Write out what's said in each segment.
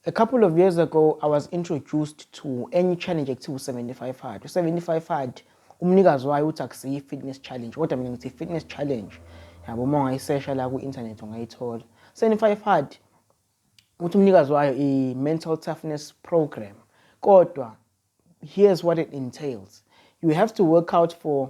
A couple of years ago I was introduced to enye challenge ekuthiwa u-75 hard. U-75 hard umnikazi wayo uthi akusiyi fitness challenge kodwa mina ngithi fitness challenge. Yabo uma ungayisesha la ku-internet ungayithola. 75 hard uthi umnikazi wayo i-mental toughness program kodwa here's what it entails you have to work out for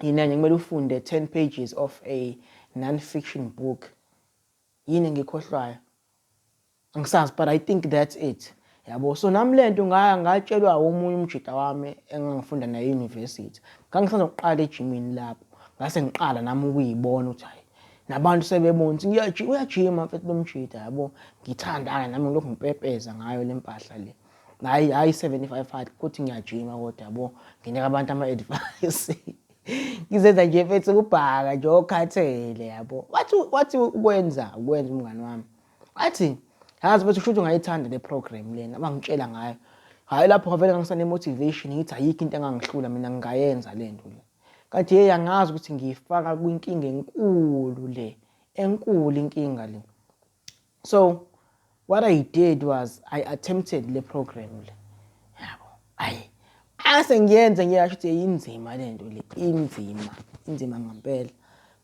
yini enye kumele ufunde 10 pages of a non-fiction book yini engikhohlwayo angisazi but i think that's it yabo so nami le nto ngatshelwa omunye umjita wami engangifunda naye e-university ngangisazoqala ejimini lapho ngase ngiqala nami ukuyibona ukuthi hayi nabantu sebebona ukuthi uyajima mfethu lo mjita yabo ngithandana nami ngilokhu ngipepeza ngayo le mpahla le hayi hayi 75 hard kuthi ngiyajima kodwa yabo nginika abantu ama advice ngizenza nje mfethu ukubhaka nje okhathele yabo wathi wathi ukwenza ukwenza umngani wami athi yazi mfethu kushuthi ungayithanda le program lena abangitshela ngayo hayi lapho ngavele ngangisane motivation ngithi ayikho into engangihlula mina ngingayenza le nto le kanti hey angazi ukuthi ngiyifaka kwinkinga enkulu le enkulu inkinga le so what i did was i attempted le program le yabo ayi ase ngiyenze ngiyasho ukuthi yinzima le nto le inzima inzima ngempela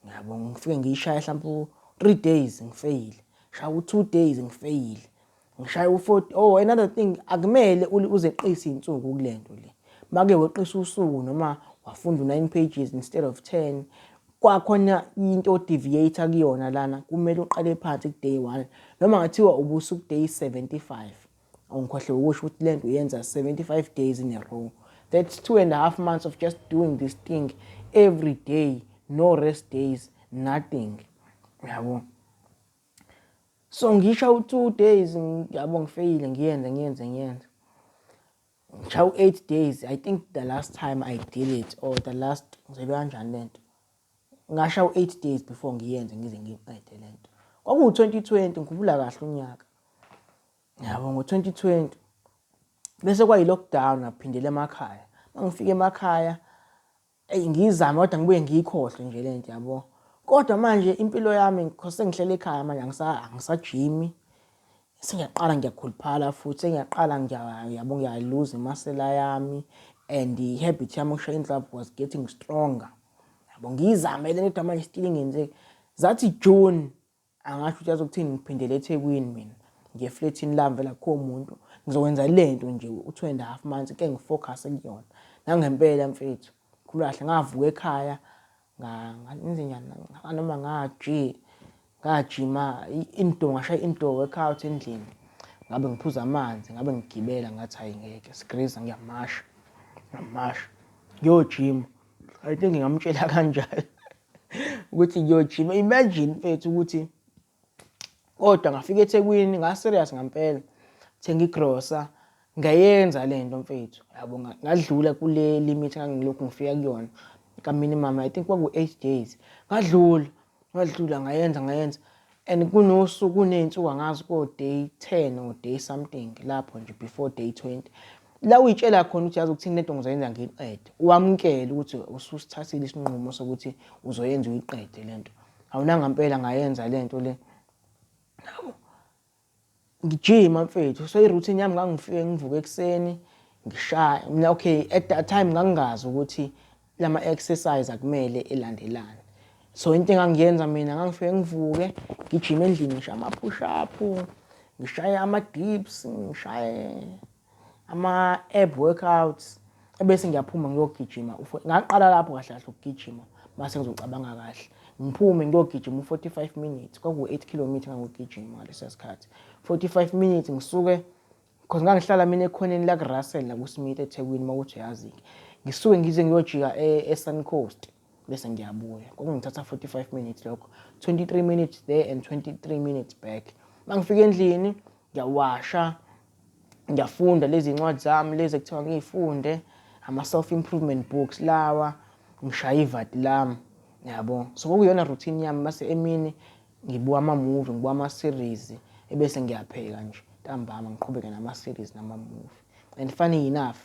ngiyabo ngifike ngiyishaya mhlawumbe u-three days ngifeyile shaya u-two days ngifeyile ngishaya u-forty oh another thing akumele uzeqise iy'nsuku kule nto le make weqisa usuku noma wafunda u-nine pages instead of ten kwakhona into odeviate kuyona lana kumele uqale phansi ku day 1 noma ngathiwa ubusu ku day 75 awungikhohle ukusho ukuthi lento uyenza 75 days in a row that's two and a half months of just doing this thing every day no rest days nothing yabo so ngisho u two days yabo ngifeyile ngiyenze ngiyenze ngiyenze Ngishaya u 8 days I think the last time I did it or the last ngizelwe kanjani lento. Ngasha u 8 days before ngiyenze ngize ngiqede lento. Kwakuwu 2020 ngikhumbula kahle unyaka. Yabo ngo 2020 bese kwayi lockdown ngaphindela emakhaya. Mangifika emakhaya eyi ngiyizame kodwa ngibuye ngiyikhohlwe nje lento yabo kodwa manje impilo yami ngikhose ngihlele ekhaya manje angisajimi sengiyaqala ngiyakhuluphala futhi sengiyaqala ngiyabo ngiyayiluza imasela yami and i-habit yami ukushaya inhlapho was getting stronger yabo ngiyizamele kodwa manje still ngenze zathi june Angasho ukuthi azokuthini ngiphindele eThekwini mina ngiye eflethini lami vele akukho muntu ngizokwenza le nto nje u-two and a half months ke ngifocuse kuyona nangempela mfethu khuluma kahle ngavuka ekhaya ngenzenjani noma ngaji ngajima indoor ngashaya indoor workout endlini ngabe ngiphuza amanzi ngabe ngigibela ngathi hayi ngeke sigriza ngiyamasha ngiyamasha ngiyojima i think ngingamtshela kanjalo ukuthi ngiyojima imagine mfethu ukuthi kodwa ngafika ethekwini ngaserious ngampela thenga igrosa ngayenza le nto mfethu yabo ngadlula kule limit ngangilokhu ngifika kuyona kaminimum i think kwaku-eight days ngadlula ngadlula ngayenza ngayenza And kunosuku kuney'nsuku angazi ko-day ten or day something lapho nje before day twenty la uyitshela khona ukuthi yazi ukuthini lento ngizoyenza ngiyiqede wamukele ukuthi ususithathile isinqumo sokuthi uzoyenza uyiqede lento awunangampela ngayenza lento le ngijima mfethu so i-routine yami ngangifike ngivuke ekuseni ngishaya mina okay at that time ngangingazi ukuthi lama exercise akumele elandelane so into engangiyenza mina ngangifike ngivuke ngijima endlini ngishaye ama-push up ngishaye ama-dips ngishaye ama-ab workouts ebese ngiyaphuma ngiyogijima ngaqala lapho kahle kahle ukugijima mase ngizocabanga kahle ngiphume ngiyogijima u-45 minutes kwakuwu-8 kilometre ngangogijima ngaleso sikhathi 45 minutes ngisuke because ngangihlala mina ekhoneni lakurussell nakusmith ethekwini uma kuthi uyazi-ke ngisuke ngize ngiyojika e-, e-sun coast bese ngiyabuya kwakungithatha 45 minutes lokho 23 minutes there and 23 minutes back mangifika endlini ngiyawasha ngiyafunda lezi ncwadi zami lezi ekuthiwa ngiyifunde ama-self improvement books lawa ngishaya ivati lami yabo so kwakuyona routine yami mase emini ngibuka ama-movie ngibuka ama-series ebese ngiyapheka nje ntambama ngiqhubeke nama-series nama-movie and funny enough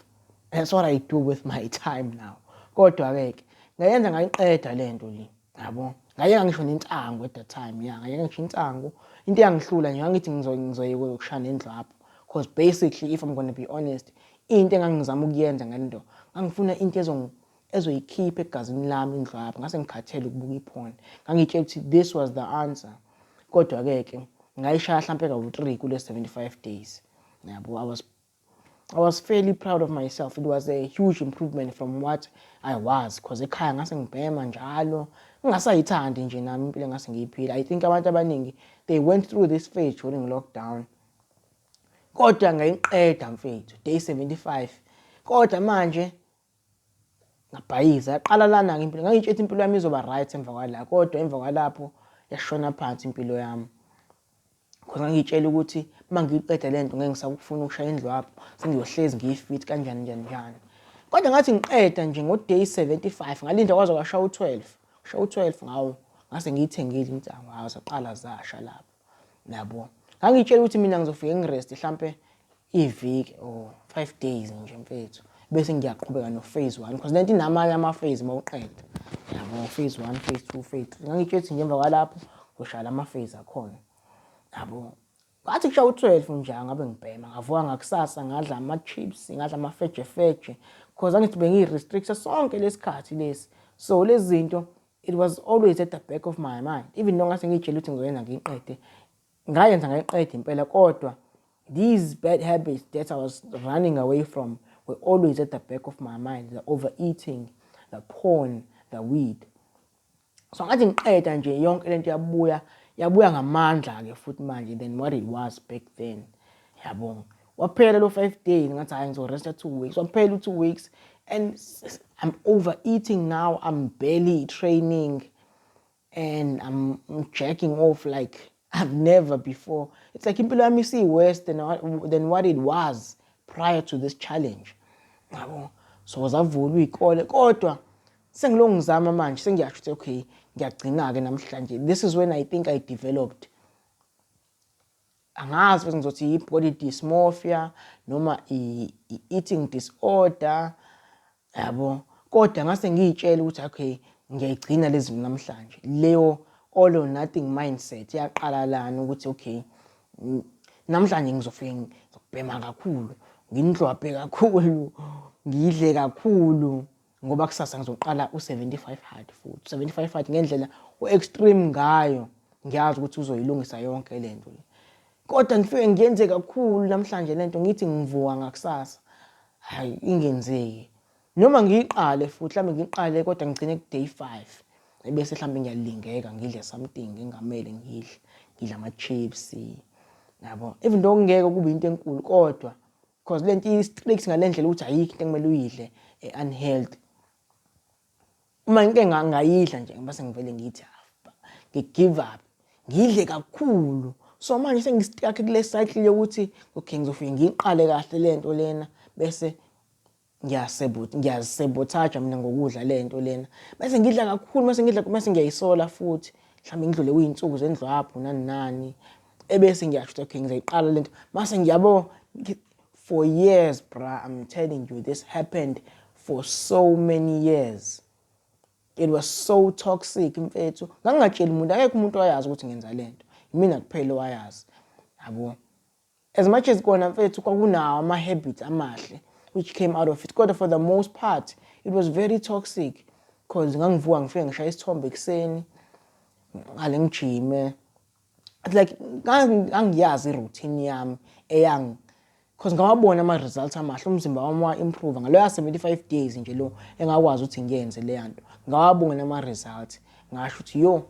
that's what i do with my time now kodwa-ke ke ngayenza ngayiqeda le nto le yabo ngayeka ngisho nentango at that time ya ngayeka ngisho intango into eyangihlula nje ngangithi ngizoyeka ukushaya nendlu apho because basically if i'm gonna be honest into engangizama ukuyenza ngento ngangifuna into ezongi ezoyikhipha egazini lami indlu apho ngase ngikhathele ukubuka iphone ngangitshela ukuthi this was the answer kodwa-ke ke ngayishaya hlampe kawu-three kule-seventy-five days yabo i was I was fairly proud of myself. It was a huge improvement from what I was because ekhaya ngase ngibhema njalo ngingasayithandi nje nami impilo ngase ngiyiphila. I think abantu abaningi they went through this phase during lockdown. Kodwa ngayiqeda mfethu day 75. Kodwa manje ngabhayiza yaqala lana-ke impilo ngangitsho ukuthi impilo yami izoba right emva kwala kodwa emva kwalapho yashona phansi impilo yami khona ngangitshela ukuthi uma ngiyiqeda le nto ngeke ngisakufuna ukushaya indlu apho sengiyohlezi ngiyifit kanjani njani njani kodwa ngathi ngiqeda nje ngo-day 75 ngalinda kwaze kwashaya u-12 shaya u-12 ngawo ngase ngiyithengile insango hawu zaqala zasha lapho Nabo. Ngangitshela ukuthi mina ngizofike ngirest hlampe iviki or 5 days nje mfethu. Bese ngiyaqhubeka no phase 1 because lento inamanye ama phase mawuqeda. Yabo phase 1, phase 2, phase 3. Ngangitshela ukuthi ngemva kwalapho ngoshala ama phase akhona. Yabo. Ngathi kusha u12 nje ngabe ngibhema. Ngavuka ngakusasa ngadla ama chips, ngadla ama feje feje because angithi bengiyi restrict sonke lesikhathi lesi. So lezi zinto It was always at the back of my mind even though ngase ngiyitshela ukuthi ngizoyenza ngiyiqede ngayenza ngayiqeda impela kodwa these bad habits that I was running away from were always at the back of my mind the overeating the porn the weed so ngathi ngiqeda nje yonke lento yabuya yabuya ngamandla ke futhi manje than what it was back then yabonga waphela lo 5 days ngathi hayi ngizo resta 2 weeks waphela u 2 weeks and I'm overeating now I'm barely training and I'm jacking off like I've never before it's like impilo yami si worse than than what it was prior to this challenge yabo so zavulwa ikole kodwa sengilongizama manje sengiyasho ukuthi okay ngiyagcina ke namhlanje this is when i think i developed angazi ukuthi ngizothi yi-body dysmorphia noma i-eating disorder yabo kodwa ngase ngiyitshela ukuthi okay ngiyayigcina lezi namhlanje leyo all or nothing mindset yaqala lana ukuthi okay namhlanje ngizofike ngizobhema kakhulu nginhlwabhe kakhulu ngidle kakhulu ngoba kusasa ngizoqala u-75 hard futhi 75 hard ngendlela u-extreme ngayo ngiyazi ukuthi uzoyilungisa yonke le nto le kodwa ngifike ngiyenze kakhulu namhlanje le nto ngithi ngivuka ngakusasa hhayi ingenzeki noma ngiyiqale futhi mhlawumbe ngiyiqale kodwa ngigcine ku-day five ebese mhlawumbe ngiyalingeka ngidle something ngingamele ngidle ngidle ama-chips yabo even though kungeke kube into enkulu kodwa Cause lento i strict ngalendlela ukuthi ayikho into ekumele uyidle e unhealthy. Uma into engangayidla nje base ngivele ngithi ah, ngi give up. Ngidle kakhulu. So manje sengistuck kule cycle yokuthi okay ngizofike ngiqale kahle lento lena bese ngiyazisebothaja mina ngokudla le nto lena mase ngidla kakhulu mase ngidla mase ngiyayisola futhi mhlawumbe ngidlule kuyinsuku zendlwaphu nani nani ebese ngiyasho ukuthi okay ngizayiqala lento mase ngiyabo for years bra i'm telling you this happened for so many years it was so toxic mfethu ngangingatsheli umuntu akekho umuntu owayazi ukuthi ngenza lento imina kuphela owayazi yabo As much as kona mfethu kwakunawo ama habits amahle which came out of it kodwa for the most part it was very toxic cause ngangivuka ngifike ngishaya isithombe ekuseni ngale ngijime it's like ngangiyazi routine yami eyang cause ngawabona ama results amahle umzimba wami wa improve ngalo ya 75 days nje lo engakwazi ukuthi ngiyenze le yanto ngawabona ama results ngasho ukuthi yo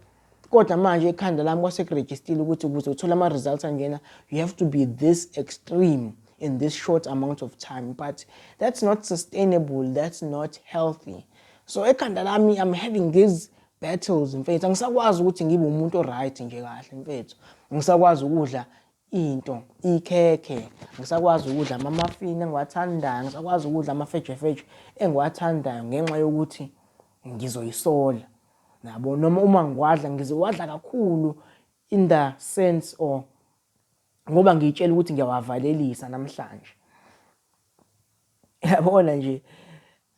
kodwa manje ekhanda lami kwase kurejistile ukuthi ukuze uthole ama-results angena you have to be this extreme in this short amount of time but that's not sustainable that's not healthy so ekhanda lami i'm having these battles mfethu angisakwazi ukuthi ngibe umuntu oright nje kahle mfethu ngisakwazi ukudla into ikhekhe ngisakwazi ukudla ama-muffin engiwathandayo ngisakwazi ukudla amafejefeje engiwathandayo ngenxa yokuthi ngizoyisola Nabo noma uma ngiwadla ngizowadla kakhulu in the sense or ngoba ngiyitshela ukuthi ngiyawavalelisa namhlanje yabona nje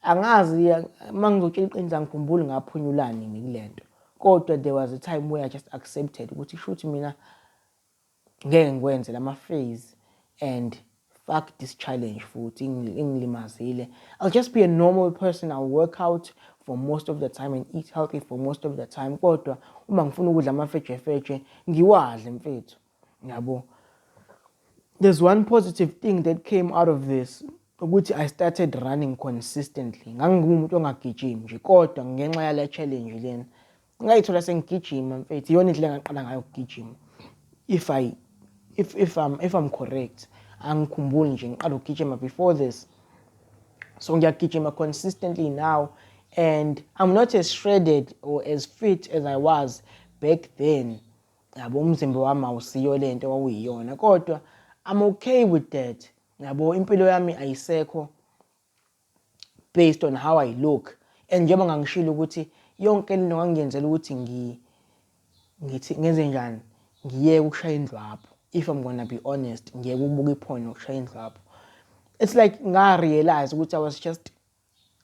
angazi uma ngizotshela iqiniso angikhumbuli ngaphunyulani ngikule nto kodwa there was a time where i just accepted ukuthi shuthi mina Ngeke ngikwenze lama phase and fuck this challenge futhi ingilimazile. I'll just be a normal person, I'll work out for most of the time and eat healthy for most of the time kodwa uma ngifuna ukudla amafejefeje ngiwadle mfethu. Ngiyabo. There's one positive thing that came out of this ukuthi I started running consistently. Ngangingumuntu ongagijimi nje kodwa ngenxa yale challenge lena ngayithola sengigijima mfethu iyona indlela engaqala ngayo ukugijima if i if if i'm if i'm correct angikhumbuli nje ngiqala ukugijima before this so ngiyagijima consistently now and i'm not as shredded or as fit as i was back then yabo umzimba wami awusiyo le nto wawuyiyona kodwa i'm okay with that yabo impilo yami ayisekho based on how I look and njengoba ngangishilo ukuthi yonke lento ngangiyenzela ukuthi ngi ngithi ngenze njani ngiyeke ukushaya indlwabu if I'm gonna be honest ngiyeke ukubuka iphone nokushaya indlwabu it's like ngarealize ukuthi I was just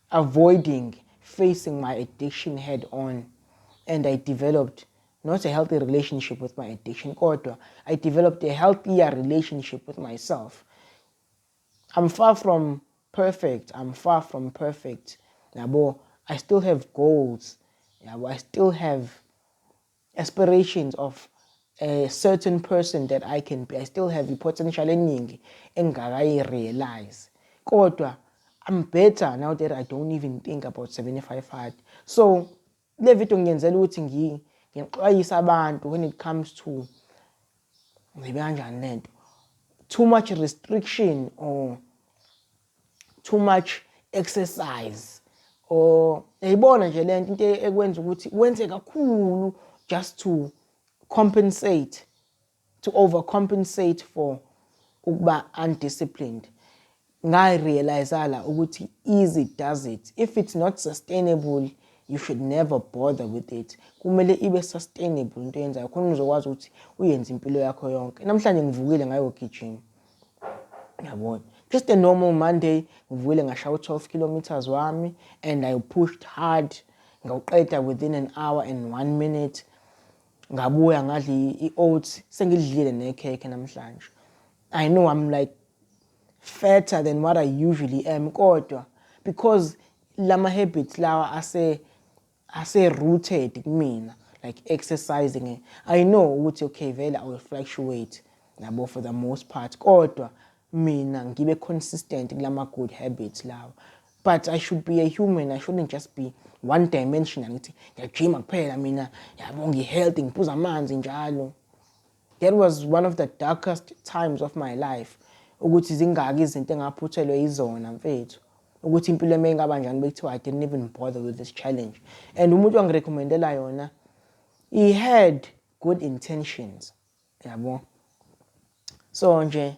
avoiding facing my addiction head on and I developed not a healthy relationship with my addiction kodwa I developed a healthier relationship with myself I'm far from perfect I'm far from perfect yabo I still have goals yabo I still have aspirations of a certain person that I can be I still have i-potential eningi engakayi-realize kodwa I'm better now that I don't even think about 75 hard so Le video ngiyenzela ukuthi ngi ngixwayise abantu when it comes to ngibe kanjani lento too much restriction or too much exercise or yayibona nje lento into ekwenza ukuthi wenze kakhulu just to compensate to overcompensate for ukuba undisciplined ngayi realize la ukuthi easy does it if it's not sustainable you should never bother with it kumele ibe sustainable into yenzayo khona uzokwazi ukuthi uyenze impilo yakho yonke namhlanje ngivukile ngayogijima yabona just a normal monday ngivukile ngashaya u-12 kilometers wami and i pushed hard ngawuqeda within an hour and one minute Ngabuya ngadla i-oats sengidlile nekhekhe namhlanje. I know I'm like fatter than what I usually am kodwa because lama habits lawa ase ase rooted kumina like exercising eh, i know ukuthi okay vele i will fluctuate yabo for the most part kodwa mina ngibe consistent kulama good habits lawa But I should be a human, I shouldn't just be one dimensional ngithi ngiyajima kuphela mina yabo ngihealthy ngiphuza amanzi njalo that was one of the darkest times of my life ukuthi zingaki izinto engaphuthelwe yizona mfethu ukuthi impilo eme ingaba njani bekuthiwa i didn't even bother with this challenge and umuntu wangirecommendela yona he had good intentions yabo so nje